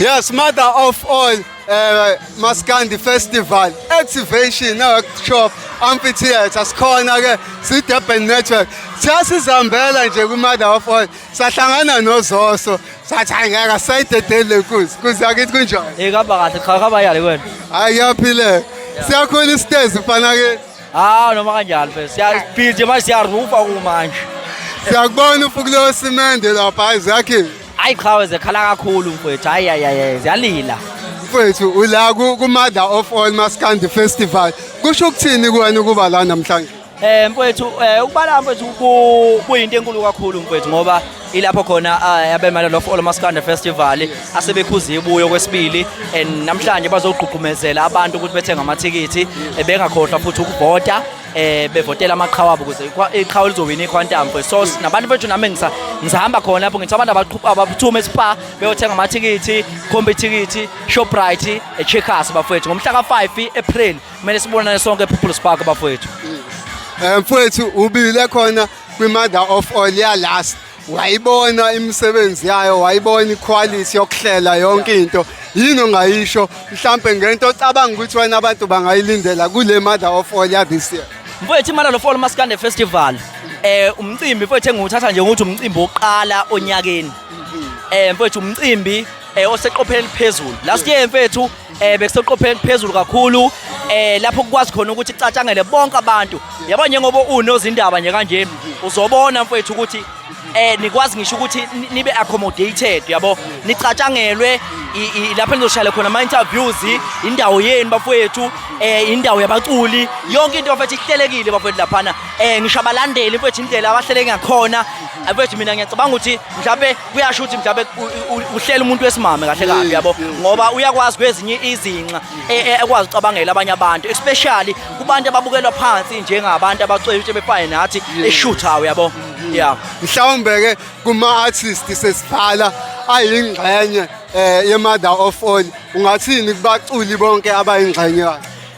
Yes, mother of all uh, Maskandi Festival Activation now shop amphitheater sikhona ke si Durban Network siyasizambela nje ku mother of all sahlangana nozoso sathi ayingeka sayidedele kuze kuze akithi kunjani Eh kaba kahle cha kaba yale kwena. ayaphile siyakhona isitezi mfana ke Ah noma kanjalo phela siyaphila nje manje siyarufa kumanje. siyakubona ufukulo simende lapha ayizakhe Hayi qhawe zekhala kakhulu mfowethu. Hayi hayi hayi ziyalila. Mfowethu ula ku ku mother of all maskandi festival. Kusho ukuthini kuwena ukuba la namhlanje? Eh mfowethu eh ukubala mfowethu ku- kuyinto enkulu kakhulu mfowethu ngoba ilapho khona eh, abemela lo All Maskanda Festival asebekhuza ibuyo kwesibili and namhlanje bazogqugqumezela abantu ukuthi bethenge amathikithi eh, bengakhohlwa futhi ukuvota eh bevotela amaqhawe abo kuze iqhawe lizowina iQuantum for so nabantu bethu nami ngisa ngisahamba khona lapho ngithi abantu abaqhuba abaphuthume spa beyothenga amathikithi khomba ithikithi Shoprite eCheckers bafowethu ngomhla ka5 April kumele sibonane sonke ePeople's Park bafowethu eh mfowethu ubile khona kwi mother of all ya last wayibona imisebenzi yayo wayibona iquality yokuhlela yonke into yini ongayisho mhlampe ngento ocabanga ukuthi wena abantu bangayilindela kule mother of all ya this year mfowethu imali lo fall maskande festival eh umcimbi mfowethu engiwuthatha nje ukuthi umcimbi oqala onyakeni eh mfowethu umcimbi eh oseqopheni eliphezulu last year mfethu eh bekuseqopheni phezulu kakhulu eh lapho kukwazi khona ukuthi icatshangele bonke abantu yabo njengoba unozindaba nje kanje uzobona mfethu ukuthi eh nikwazi ngisho ukuthi nibe accommodated yabo nicatshangelwe lapho nizoshayela khona ama interviews indawo yenu bafowethu eh indawo yabaculi yonke into mfethu ihlelekile bafowethu laphana eh ngisho abalandeli mfethu indlela abahleleke ngakhona mfethu mina ngiyacabanga ukuthi mhlawumbe kuyasho ukuthi mhlawumbe uhlela umuntu wesimame kahle kabi yabo ngoba uyakwazi kwezinye izinxa e, e, ekwazi ucabangela abanye abantu especially kubantu ababukelwa phansi njengabantu abacwebishe befane nathi eshuthayo yabo yeah mhlawumbe ke kuma artist sesiphala ayingxenye eh ye mother of all ungathini kubaculi bonke abayingxenye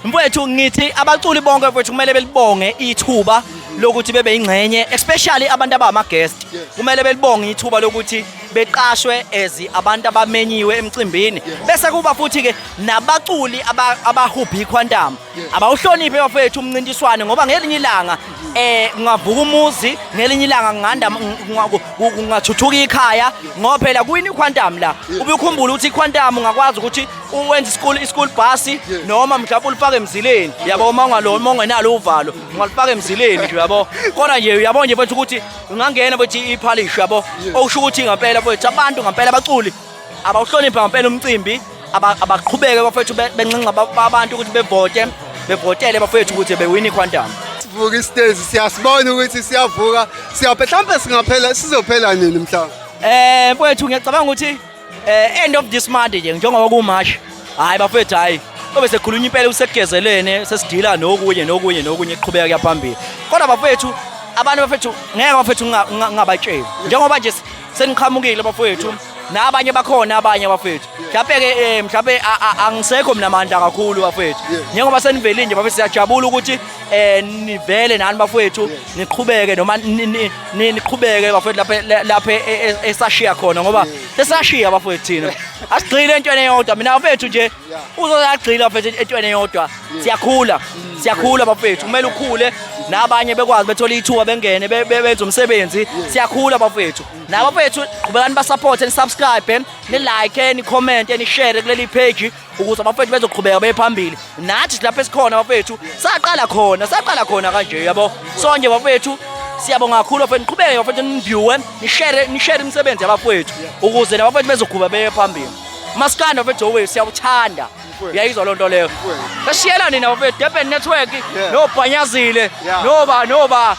mfowethu ngithi abaculi bonke mfowethu kumele belibonge ithuba lokuthi bebe yingxenye especially abantu abama guest kumele belibonge ithuba lokuthi beqashwe as abantu abamenyiwe emcimbini bese kuba futhi ke nabaculi abahubha iquantum abawuhloniphe bafethu umncintiswane ngoba ngelinye ilanga eh kungavuka umuzi ngelinye ilanga nganda kungathuthuka ikhaya ngoba phela kuyini iquantum la ubukhumbula ukuthi iquantum ungakwazi ukuthi uwenza isikulu isikulu bhasi noma mhlawumbe ulifake emzileni yabo uma ungalo uma ungenalo uvalo ungalifaka emzileni nje yabo kodwa nje uyabona nje mfethu ukuthi ungangena mfethu iphalishi yabo okusho ukuthi ngampela mfethu abantu ngampela abaculi abawuhlonipha ngampela umcimbi aba- abaqhubeke bafethu be- benxenxa ba- abantu ukuthi bevote bevotele bafethu ukuthi bewini iquantum sivuka istage siyasibona ukuthi siyavuka siyaphela mhlawumbe singaphela sizophela nini mhlawumbe Eh mfowethu ngiyacabanga ukuthi Eh end of this month nje njengoba ku March. Hayi bafethu hayi. Obe sekhulunywa impela usekugezelene sesidila nokunye nokunye nokunye qhubeka kuyaphambili. Kodwa bafethu abantu bafethu ngeke bafethu ngingabatsheli. Njengoba nje seniqhamukile bafethu nabanye bakhona abanye bafethu mhlawumbe ke eh, mhlawumbe angisekho mina amandla kakhulu bafethu njengoba senivele nje bafethu siyajabula ukuthi eh nivele nani bafethu niqhubeke noma niqhubeke bafowethu lapha lapha e, e, e, esashiya khona ngoba sesashiya bafowethu thina asigcile entweni eyodwa mina bafethu nje uzozagcila bafethu entweni eyodwa siyakhula siyakhula bafethu kumele ukhule nabanye bekwazi bethola ithuba bengene benze umsebenzi siyakhula bafethu nabafethu qhubekani basupporte nisubscribe nilike nicommente nishare kuleli page ukuze abafethu bezoqhubeka bephambili nathi lapha esikhona abafethu saqala khona saqala khona kanje yabo sonje abafethu siyabonga kakhulu bafethu niqhubeke bafethu niviewe nishare nishare imisebenzi yabafethu ukuze nabafethu bezoqhubeka beye phambili maskanda bafethu owe siyakuthanda uyayizwa loo nto leyo esiyela nina bafethu durban network nobhanyazile noba noba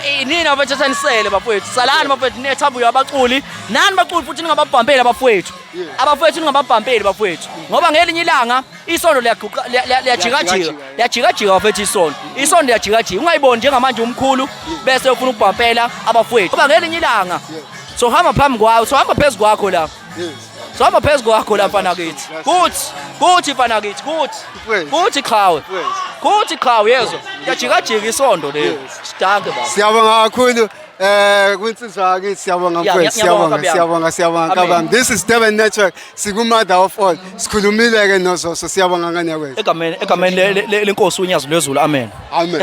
eh, nina bafethu esenisele bafethu salani bafethu nethambuyabaculi nani baculi futhi ningababhambeli abafethu abafowethu ningababhampeli bafowethu ngoba ngelinye ilanga isondo liyaguqa- liya- liya- liyajikajika Liyajikajika. liyajikajika bafowethu isondo isondo liyajikajika ungayiboni njengamanje umkhulu bese ufuna ukubhampela abafowethu ngoba ngelinye ilanga sohamba phambi kwawo sohamba phezu kwakho la sohamba phezu kwakho la mfana kithi kuthi kuthi mfana kithi kuthi Mfowethu. kuthi qhawe Mfowethu. kuthi qhawe yezwa liyajikajika isondo leli Yes. sidanke baba Siyabonga kakhulu. Eh kwinsizwa yakithi siyabonga Yeah, mfethu ngiyabonga, siyabonga siyabonga siyabonga Amen. kabam. This is Durban Network sikumother of all. Sikhulumile ke nozoso siyabonga ngane yakwethu. egameni egameni le- le- le- lenkosi unyazi lwezulu amen Amen.